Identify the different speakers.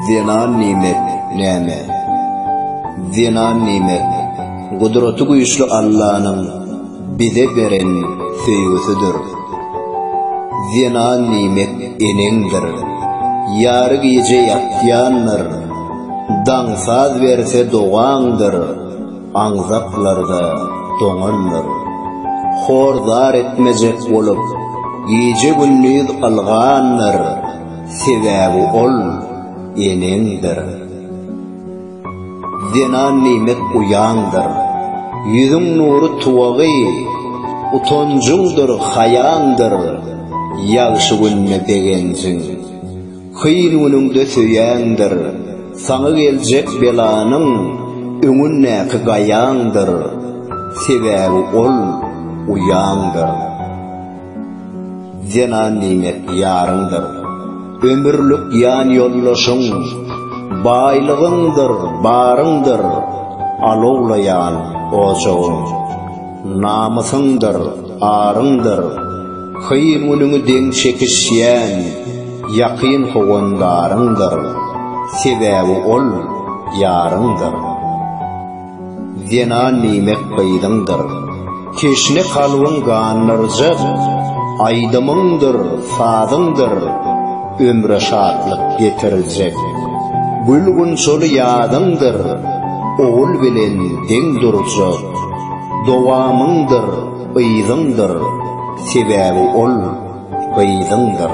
Speaker 1: Zenan nimet, näme? Zenan nimet, Gudraty güýçli Allanyň bize beren söýgüsidir. Zenan nimet eneňdir. Ýary gije ýatýandyr. Daň saz berse dogaňdyr. Aňzaklarda doňandyr. Hor-zar etmejek bolup, gije-gündiz ylgandyr, sebäbi ol eneňdir. Zenan nimet uýaňdyr. Ýüzüň nury tuwagy, utanjyňdyr, haýaňdyr, ýagşy günde begenjiň. Hyr günüňde söýeňdir, saňa geljek belanyň öňündäki gaýaňdyr, sebäbi ol uýaňdyr. Zenan diýmek ýaryňdyr, ömürlik ýanýoldaşyň, baýlygyňdyr, baryňdyr, alowlaýan ojagyň, namysyňdyr. Aryňdyr, köýüň-ünüňi deň çekişýän ýakyn howandaryňdyr, sebäbi ol, ýaryňdyr. Zenan diýmek gyzyňdyr, teşne kalbyň gandyrjak aýdymyňdyr, sazyňdyr, ömre şatlyk getirjek gül-gunçaly ýazyňdyr, ogul bilen deň durjak. Dowamyňdyr yzyňdyr, sebäbi ol gyzyňdyr.